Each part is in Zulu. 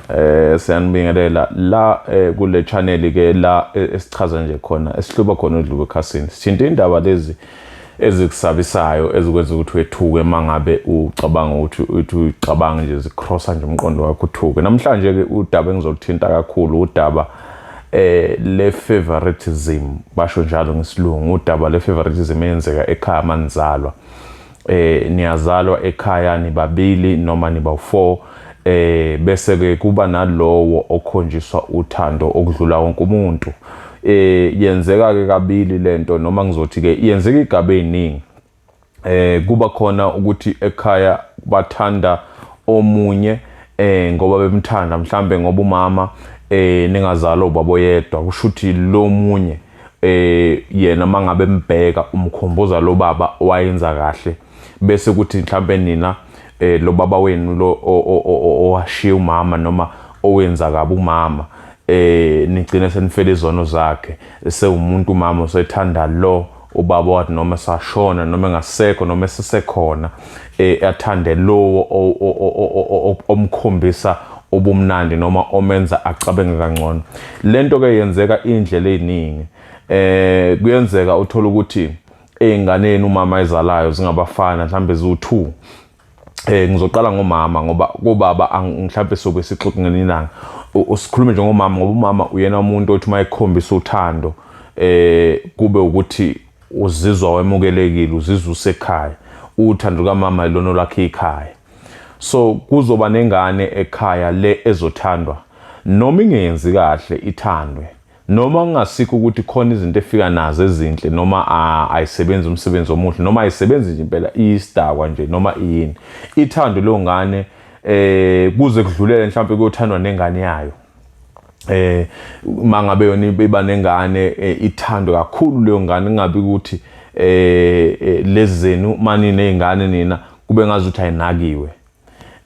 Eh siyanibingelela la eh, kule channel ke la eh, esichaza nje khona esihluba khona udluke ekhasini. Sithinta indaba lezi ezikusabisayo ezikwenza ukuthi wethuke mangabe ucabanga ukuthi uthi ucabanga nje zikrosa nje umqondo wakho uthuke. Namhlanje ke udaba engizolithinta kakhulu udaba eh le favoritism basho njalo ngesilungu udaba le favoritism eyenzeka ekhaya manizalwa eh niyazalwa ekhaya nibabili noma nibawu4 eh bese ke kuba nalowo okhonjiswa uthando okudlula wonke umuntu eh yenzeka ke kabili lento noma ngizothi ke yenzeka igaba eziningi eh kuba khona ukuthi ekhaya bathanda omunye eh ngoba bemthanda mhlambe ngoba umama eh ningazalo ubaboyedwa kushuthi lomunye eh yena mangabe mbheka umkhumbuza lo baba wayenza kahle bese kuthi mhlambe nina eh lo baba wenu lo owashiya umama noma owenza kabi umama eh nigcine senifela izono zakhe sewumuntu umama usethanda lo ubaba wathi noma sashona noma engasekho noma esisekhona e, athande lowo omkhombisa ubumnandi noma omenza acabenge kangcono lento ke yenzeka indlela eziningi eh kuyenzeka uthola ukuthi einganeni umama ezalayo zingabafana mhlambe ziwu2 eh ngizoqala ngomama ngoba kubaba mhlambe soke sixoxe ngelinanga usikhulume nje ngomama ngoba umama uyena umuntu othi mayekhombisa uthando eh kube ukuthi uzizwa wemukelekile uzizwa usekhaya uthando lukamama ilona olakhe ikhaya so kuzoba nengane ekhaya le ezothandwa noma ingenzi kahle ithandwe noma kungasikho ukuthi khona izinto efika nazo ezinhle noma ayisebenzi umsebenzi omuhle noma ayisebenzi nje impela iyisidakwa nje noma iyini ithando leyo ngane eh kuze kudlulele mhlawumbe kuyothandwa nengane yayo eh mangabe yona iba nengane eh, ithandwe kakhulu leyo ngane ingabe ukuthi eh, eh lezenu mani nezingane nina kube ngazuthi ayinakiwe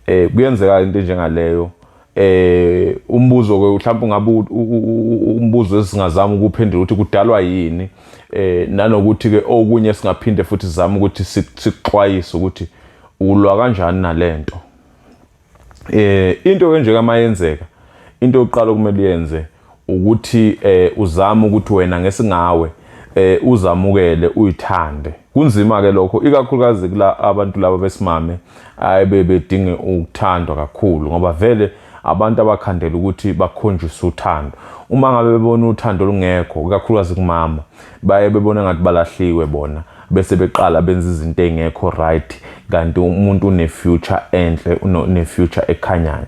eh kuyenzeka into njengaleyo eh umbuzo ke mhlawumbe ungabe umbuzo esingazama ukuphendula ukuthi kudalwa yini eh nanokuthi ke okunye singaphinde futhi sizame ukuthi sixwayise ukuthi ulwa kanjani nalento eh into ke nje kamayenzeka into yokuqala okumele uyenze ukuthi eh uzama ukuthi wena ngesingawe eh uzamukele uyithande kunzima ke lokho ikakhulukazi kula abantu laba besimame ayibe bedinge ukuthandwa kakhulu ngoba vele abantu abakhandela ukuthi bakhonjiswe uthando uma ngabe bebona uthando olungekho ikakhulukazi kumama baye bebona ngathi balahliwe bona bese beqala benza izinto engekho right kanti umuntu une future enhle une future ekhanyayo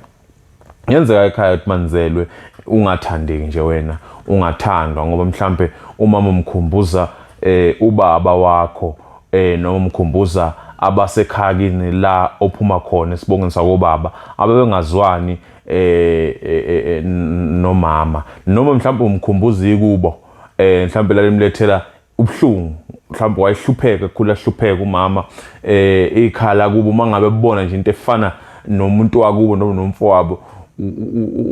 yenzeka ekhaya ukuthi manzelwe ungathandeki nje wena ungathandwa ngoba mhlambe umama umkhumbuza eh ubaba wakho eh noma umkhumbuza abasekhakini la ophuma khona esibongeni sakobaba abebengazwani eh, eh, eh, eh nomama noma mhlawumbe umkhumbuza ikubo eh mhlawumbe lalimlethela ubuhlungu mhlawumbe wayehlupheka kukhula hlupheka umama eh ikhala kubo mangabe bebona nje into efana nomuntu wakubo noma nomfowabo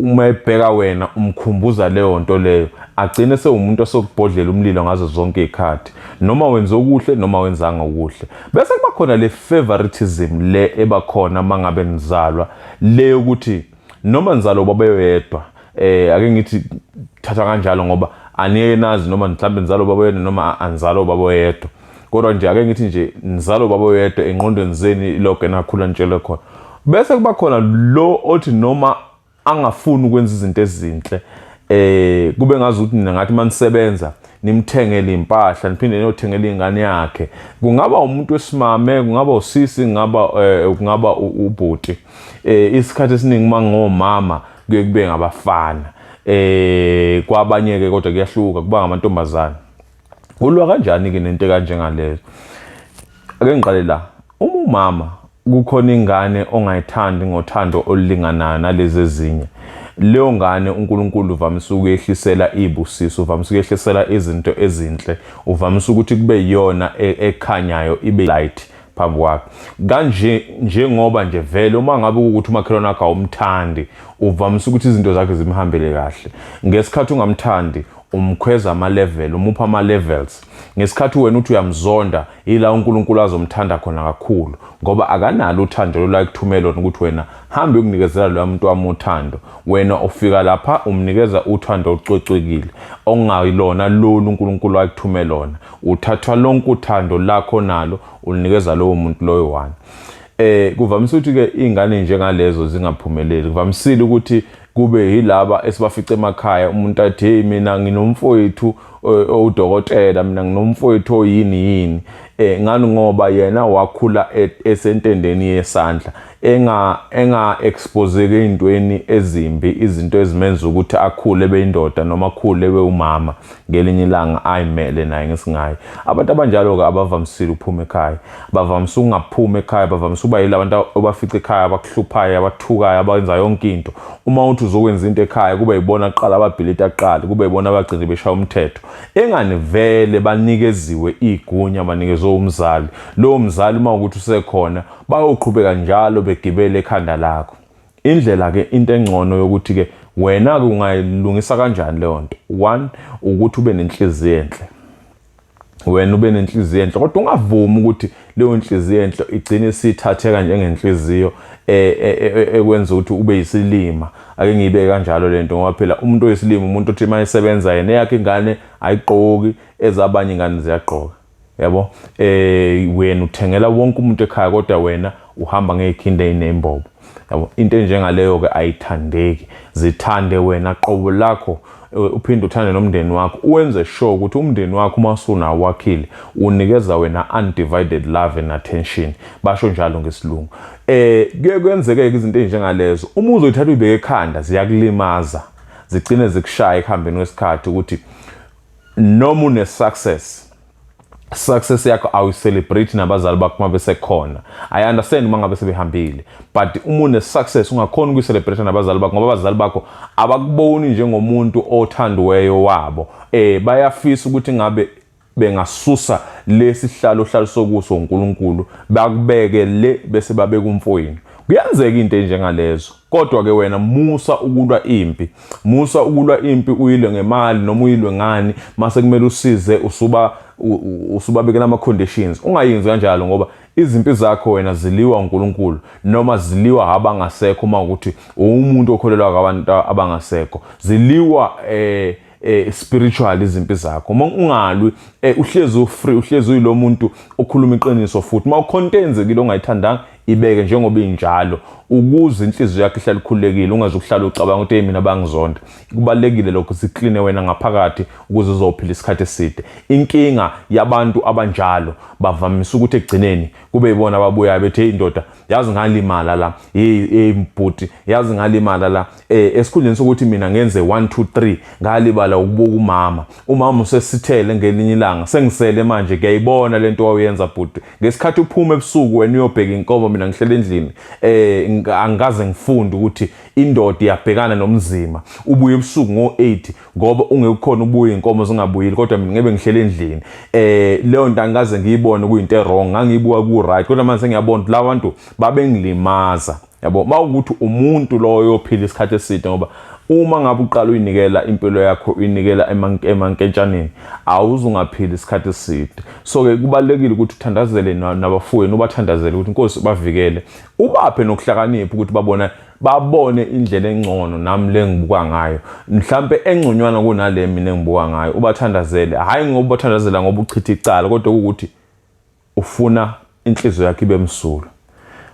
uma ebheka wena umkhumbuza leyo nto leyo agcine sewumuntu osokubhodlela umlilo ngazo zonke izikhathi noma wenza okuhle noma wenzanga okuhle bese kuba khona le favoritism le ebakhona mangabe nizalwa le ukuthi noma nizalo babeyoyedwa eh ake ngithi thatha kanjalo ngoba aniye nazi noma mhlawumbe nizalo baboyedwa noma anizalo baboyedwa kodwa nje ake ngithi nje nizalo baboyedwa enqondweni zeni loke nakhula nitshele khona bese kuba khona lo othi noma angafuni ukwenza izinto ezinhle eh kube ngazi ukuthi nina ngathi manisebenza nimthengele impahla niphinde niyothengela ingane yakhe kungaba umuntu wesimame kungaba usisi kungaba eh, kungaba ubhuti eh isikhathi esiningi uma ngomama kuye kube ngabafana eh kwabanye ke kodwa kuyahluka kuba ngamantombazana ulwa kanjani ke nento kanje ngalezo ake ngiqale la uma umama kukhona ingane ongayithandi ngothando olulinganayo nalezi ezinye leyo ngane uNkulunkulu uvamise ukuyehlisela ibusiso uvamise ukuyehlisela izinto ezinhle uvamise ukuthi kube yiyona e, ekhanyayo ibe light phambi kwakhe kanje njengoba nje vele uma ngabe ukuthi umakhelwane wakho awumthandi uvamise ukuthi izinto zakhe zimhambele kahle ngesikhathi ungamthandi umkhweza ama-level umupha ama-levels ngesikhathi wena uthi uyamzonda yila unkulunkulu azomthanda khona kakhulu ngoba akanalo uthando lolakuthumela lona ukuthi wena hambe ukunikezela loya muntu wami uthando wena ufika lapha umnikeza uthando olucocekile okungayilona lolu unkulunkulu ayekuthumela lona Uthathwa lonke uthando lakho nalo ulinikeza lowo muntu loyo one. Eh kuvamise ukuthi ke izingane njengalezo zingaphumeleli. Kuvamisile ukuthi kube yilaba esibafice emakhaya umuntu athi hey mina nginomfowethu eh, owudokotela mina nginomfowethu oyini yini eh ngani ngoba yena wakhula e, esentendeni yesandla enga enga exposeke intweni ezimbi izinto ezimenza ukuthi akhule beyindoda noma akhule bewumama ngelinye ilanga ayimele naye ngesingayi abantu abanjalo-ke abavamisile ukuphuma ekhaya bavamise ukungaphumi ekhaya bavamise ukuba yila bantu obafica ekhaya abakuhluphayo abathukayo abenza yonke into uma uthi uzokwenza into ekhaya kube yibona kuqala ababhilita kuqala kube yibona abagcine beshaya umthetho engani vele banikeziwe igunya banikezwe umzali lowo mzali uma ukuthi usekhona bayoqhubeka njalo begibele ekhanda lakho Indlela ke into engcono yokuthi ke wena ke ungayilungisa kanjani leyo nto. One ukuthi ube nenhliziyo enhle. Wena ube nenhliziyo enhle kodwa ungavumi ukuthi leyo nhliziyo enhle igcine isithatheka njengenhliziyo e, e, e, ekwenza ukuthi ube yisilima. Ake ngibe kanjalo lento ngoba phela umuntu oyisilima umuntu othi mayisebenza yena yakhe ingane ayigqoki ezabanye ingane ziyagqoka. Yabo? Eh wena uthengela wonke umuntu ekhaya kodwa wena uhamba ngezikhindi ezinembobo. Yabo? Into enjengaleyo ke ayithandeki. Zithande wena qobo lakho eh, uphinde uthande nomndeni wakho. Uwenze sure ukuthi umndeni wakho uma usuna wakhile unikeza wena undivided love and attention. Basho njalo ngesilungu. Eh kuye kwenzeke izinto ezinjengalezo. Uma uzoyithatha uyibeke ekhanda ziyakulimaza. Zigcine zikushaya ekuhambeni kwesikhathi ukuthi noma une success success yakho awu celebrate nabazali bakho uma besekhona i understand uma ngabe sebehambile but uma une success ungakhona ukuyi celebrate nabazali bakho ngoba abazali bakho abakuboni njengomuntu othandiweyo wabo eh bayafisa ukuthi ngabe bengasusa lesi hlalo hlalo sokuso uNkulunkulu bakubeke le bese babeka umfoyini kuyenzeka into enjengalezo kodwa ke wena musa ukulwa impi musa ukulwa impi uyilwe ngemali noma uyilwe ngani mase kumele usize usuba usubabekela ama conditions ungayenzi kanjalo ngoba izimpi zakho wena ziliwa uNkulunkulu noma ziliwa abangasekho uma ukuthi uwumuntu okholelwa kwabantu abangasekho ziliwa eh eh spiritual izimpi zakho uma ungalwi eh uhlezi ufree uhlezi uyilomuntu okhuluma iqiniso futhi uma ucontenzekile ongayithandanga ibeke njengoba injalo ukuze inhliziyo yakhe ihlale ikhululekile ungaze ukuhlala ucabanga ukuthi mina bangizonda kubalekile lokho sikline wena ngaphakathi ukuze uzophila isikhathi eside inkinga yabantu abanjalo bavamisa ukuthi egcineni kube ibona ababuyayo bethi hey indoda yazi ngalimala la hey hey mbhuti yazi ngalimala la eh esikhundleni sokuthi mina ngenze 1 2 3 ngalibala ukubuka umama umama usesithele ngelinye ilanga sengisele manje kuyayibona lento wayenza bhuti ngesikhathi uphuma ebusuku wena uyobheka inkomo mina ngihlele endlini eh angikaze ngifunde ukuthi indoda iyabhekana nomzima ubuye ebusuku ngo8 ngoba ungekukhona ubuye inkomo zingabuyili kodwa mina ngebe ngihlele endlini eh leyo nto angikaze ngiyibone kuyinto wrong ngangiyibuka ku right kodwa manje ngiyabona lawa bantu babengilimaza yabo mawukuthi umuntu loyo ophila isikhathi eside ngoba uma ngabe uqala uyinikela impilo yakho uyinikela emankentshaneni awuzungaphila isikhathi eside so ke kubalekile ukuthi uthandazele nabafowenu ubathandazele ukuthi inkosi bavikele ubaphe nokuhlakanipha ukuthi babona babone indlela engcono nami lengibuka ngayo mhlambe engconywana kunale mina engibuka ngayo ubathandazele hayi ngoba ubathandazela ngoba uchitha icala kodwa ukuthi ufuna inhliziyo yakhe ibe msulwa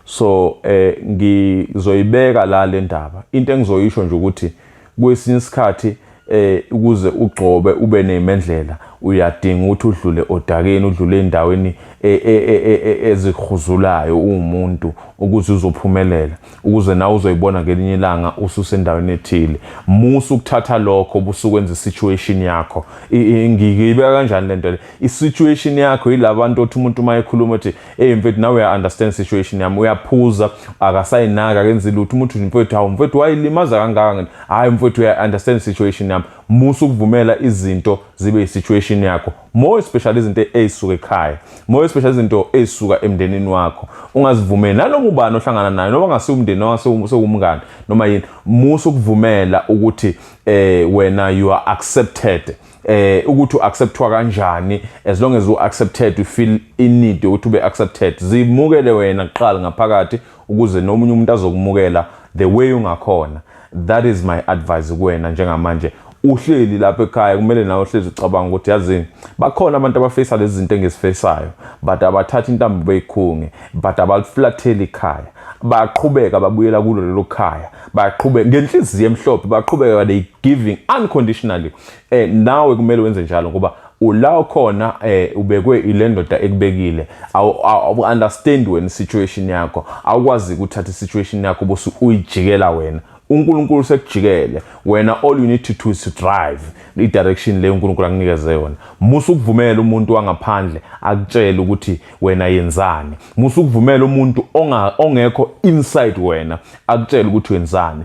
so eh ngizoyibeka la le ndaba into engizoyisho nje ukuthi kwesinye isikhathi eh ukuze ugcobe ube nemendlela uyadinga ukuthi udlule odakeni udlule endaweni e, e, e, ezihuzulayo umuntu ukuze uzophumelela ukuze nawe uzoyibona ngelinye ilanga ususendaweni ethile musa ukuthatha lokho busukwenza isituation yakho ngiyibeka kanjani lento le isituation yakho yilabantu othi umuntu uma ekhuluma ethi hey mfethu nawe uya understand situation yami uyaphuza akasayinaka akenzi lutho umuntu mfethu hawu mfethu wayilimaza kangaka ngene hayi mfethu uya understand situation yami musa ukuvumela izinto zibe isituation yakho more especially izinto ezisuka ekhaya more especially izinto ezisuka emndenini wakho ungazivumeli nanoma ubani ohlangana naye noma ngasiwu umndeni noma sewumngani noma yini musa ukuvumela ukuthi eh wena you are accepted eh ukuthi uacceptwa kanjani as long as uaccepted you feel in need ukuthi ube accepted zimukele wena kuqala ngaphakathi ukuze nomunye umuntu azokumukela the way ungakhona that is my advice kuwena njengamanje uhleli lapha ekhaya kumele nawe uhlezi ucabanga ukuthi yazini bakhona abantu abafesa lezi zinto engizifesayo but abathatha intambo beyikhunge but abaliflatheli ikhaya bayaqhubeka babuyela kulo lelo khaya bayaqhubeka ngenhliziyo emhlophe baqhubeka they giving unconditionally eh nawe kumele wenze njalo ngoba ula okhona eh ubekwe ile ndoda ekubekile awu understand wena situation yakho awukwazi ukuthatha isituation yakho bose uyijikela wena uNkulunkulu sekujikele wena all you need to do is to drive i direction le uNkulunkulu akunikeze yona musa ukuvumela umuntu wangaphandle akutshele ukuthi wena yenzani musa ukuvumela umuntu ongekho inside wena akutshele ukuthi wenzani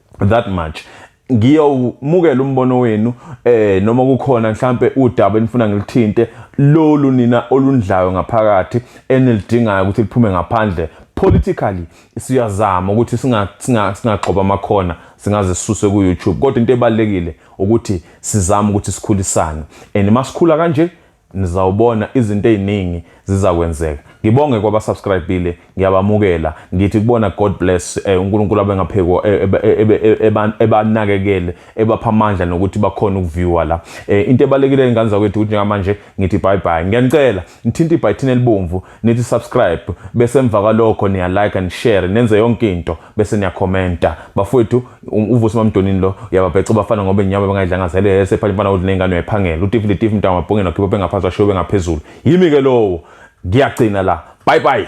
that much ngiyomukela umbono wenu eh noma kukhona mhlambe udaba enifuna ngilithinte lolu nina olundlayo ngaphakathi enilidingayo ukuthi liphume ngaphandle politically siyazama ukuthi singa singagxoba amakhona singaze sisuse ku YouTube kodwa into ebalekile ukuthi sizama ukuthi sikhulisane and masikhula kanje nizawubona izinto eziningi zizakwenzeka ngibonge kwaba subscribile ngiyabamukela ngithi kubona god bless eh, uNkulunkulu abengaphekwa eh, ebanakekele ebapha amandla nokuthi bakhona ukuviewer la eh, into ebalekile ingane zakwethu ukuthi njengamanje ngithi bye bye ngiyanicela nithinta ibhayithini elibomvu nithi subscribe bese emva kwalokho niya like and share nenze yonke into bese niyakhomenta bafowethu um, uvusi mamdonini lo uyababheca bafana ngoba inyama bengayidlanga zele yese phanje mfana udle ingane uyayiphangela utifile tifile mntana wabhongela khipha bengaphansi washiwe bengaphezulu yimi ke lowo ngiyagcina la bye bye